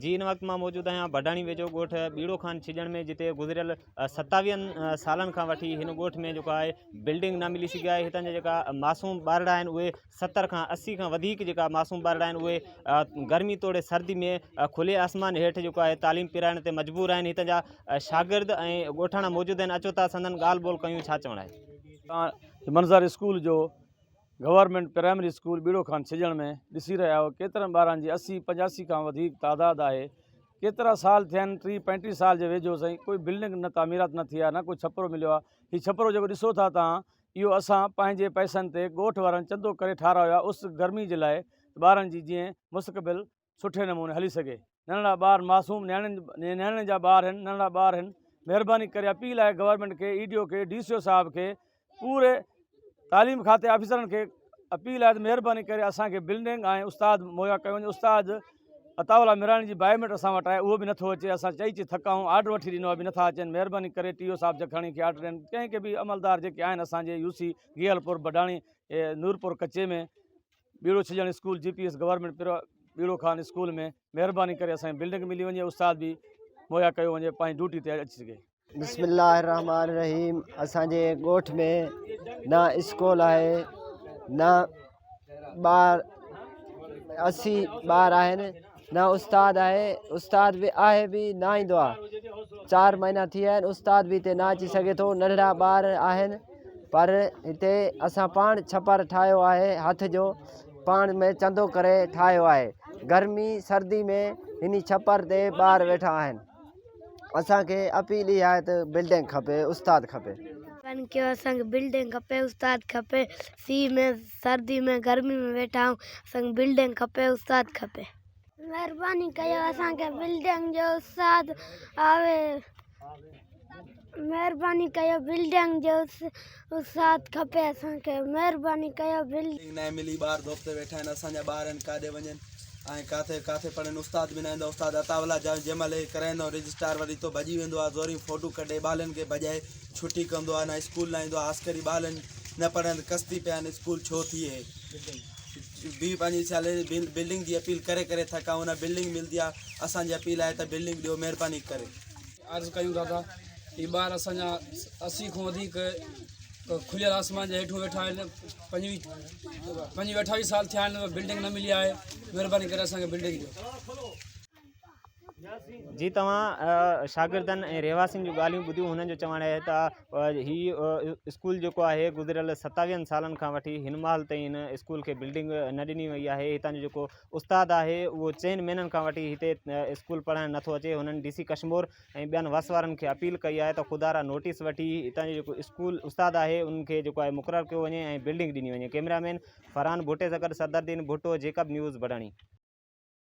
جي ان وقت مان موجود آهيان ڀٽاڻي ويجهو ڳوٺ ٻيڙو خان ڇڄڻ ۾ جتي گذريل ستاويهن سالن کان وٺي هن ڳوٺ ۾ جيڪو آهي بلڊنگ نه ملي سگهي آهي هتان جا جيڪا معصوم ٻارڙا آهن اهي ستر کان اسي کان وڌيڪ جيڪا معصوم ٻارڙا آهن اهي گرمي توڙي سردي ۾ کلي آسمان هيٺ جيڪو آهي تعليم پرائڻ تي مجبور آهن هتان جا شاگرد ۽ ڳوٺاڻا موجود آهن اچو ٿا سندن ڳالهه ٻولهه ڪيون ڇا چوڻ آهي منظر اسڪول جو government primary school Bero Khan ڇڄڻ ۾ ڏسي رهيا آهيو ڪيترن ٻارن جي اسي پنجاسي کان وڌيڪ تعداد آهي ڪيترا سال ٿيا آهن ٽيهه پنجٽيهه سال جي ويجهو سائين ڪوئي بلڊنگ نه تعميرات نه ٿي آهي نه ڪوئي ڇپرو مليو آهي هي ڇپرو جيڪو ڏسو ٿا تهان اهو اسان پنهنجي پئسن تي ڳوٺ وارن چندو ڪري ٺارايو آهي اس گرمي جي لاء ته ٻارن جي جيئن مستقبل سٺي نموني هلي سگهي ننڍڙا ٻار معصوم نياڻين نياڻين جا ٻار هن ننڍڙا ٻار هن مهرباني ڪري اپيل آهي گورنمنٽ کي اي ڊي او کي ڊي سي او صاحب کي پوري تعليم کاتي آفيسرن کي اپيل آهي مهرباني ڪري اسان کي بلڊنگ ۽ استاد مهيا ڪيو وڃي استاد عطاءالله ميراڻي جي بائيوميٽر اسان وٽ آهي اهو به نٿو اچي اسان چئي چئي ٿڪا آهيون آرڊر وٺي ڏنو به نٿا اچن مهرباني ڪري ٽي او صاحب جکاڻي کي آرڊر ڏين ڪنهن کي به عملدار جيڪي آهن اسانجي يو سي گيل پور بڊاڻي نورپور ڪچي ۾ ٻيڙو ڇڄڻ school G P S government پرا ٻيڙو خان اسڪول ۾ مهرباني ڪري اسان بلڊنگ ملي وڃي استاد به مهيا ڪيو وڃي پنهنجي ڊيوٽي تي اچي سگهي بسم الله الرحمن الرحيم اسان جي ڳوٺ ۾ نه اسڪول آهي نه ٻار اسي ٻار آهن نه استاد آهي استاد به آهي به نه ايندو آ چار مهينا ٿي ويا آهن استاد به هتي نه اچي سگهي ٿو ننڍڙا ٻار آهن پر هتي اسان پاڻ ڇپر ٺاهيو آهي هٿ جو پاڻ ۾ چندو ڪري ٺاهيو آهي گرمي سردي ۾ هن ڇپر تي ٻار ويٺا آهن اسانکي اپيل اها آهي ته بلڊنگ کپي استاد کپي ڪيو اسانکي بلڊنگ کپي استاد کپي سيء ۾ سردي ۾ گرمي ۾ ويٺا آهيون اسان کي بلڊنگ کپي استاد کپي. مھرباني ڪيو اسان کي بلڊنگ جو استاد آوي مھرباني ڪيو بلڊنگ جو استاد کپي اسان کي مھرباني ڪيو بلڊنگ. بلڊنگ ناھي ملي ٻار دوپتي ويٺا آھن اسان جا ٻار ھن ڪاڏي وڃن ۽ ڪاٿي ڪاٿي پڙھن استاد به ناھن استاد عطاء الله جا جنھن مھل ھي ڪرائيندو رجسٽار وري ھتو ڀڄي ويندو آھي زورين فوٽو ڪڍي ٻالن کي ڀڄائي ڇٽي ڪندو آهي نه اسڪول نه ايندو آهي عسڪري ٻالن نه پڙهن ڪستي پيا آهن اسڪول ڇو ٿئي بي پنهنجي سيلري بل بلڊنگ جي اپيل ڪري ڪري ٿڪا آهيون نه بلڊنگ ملندي آهي اسانجي اپيل آهي ته بلڊنگ ڏيو مهرباني ڪري عرض ڪيون ٿا ته هي ٻار اسانجا اسي کان وڌيڪ کليل آسمان جي هيٺون ويٺا آهن پنجوي پنجوي اٺاويهه سال ٿيا آهن بلڊنگ نه ملي آهي مهرباني ڪري اسانکي بلڊنگ ڏيو جي توهان شاگردن ۽ رهواسين جون ڳالهيون ٻڌيون هنن جو چوڻ آهي ته هي اسڪول جيڪو آهي گذريل ستاويهن سالن کان وٺي هن مهل تائين هن اسڪول کي بلڊنگ نه ڏني وئي آهي هتان جو جيڪو استاد آهي اهو چئن مهينن کان وٺي هتي اسڪول پڙهائڻ نٿو اچي هنن ڊي سي ڪشمور ۽ ٻين وس وارن کي اپيل ڪئي آهي ته خدا را نوٽيس وٺي هتان جو جيڪو اسڪول استاد آهي انهن کي جيڪو آهي مقرر ڪيو وڃي ۽ بلڊنگ ڏني وڃي ڪئميرا مين فرحان ڀٽي سان گڏ صدردين ڀٽو جيڪب نيوز بڊاڻي.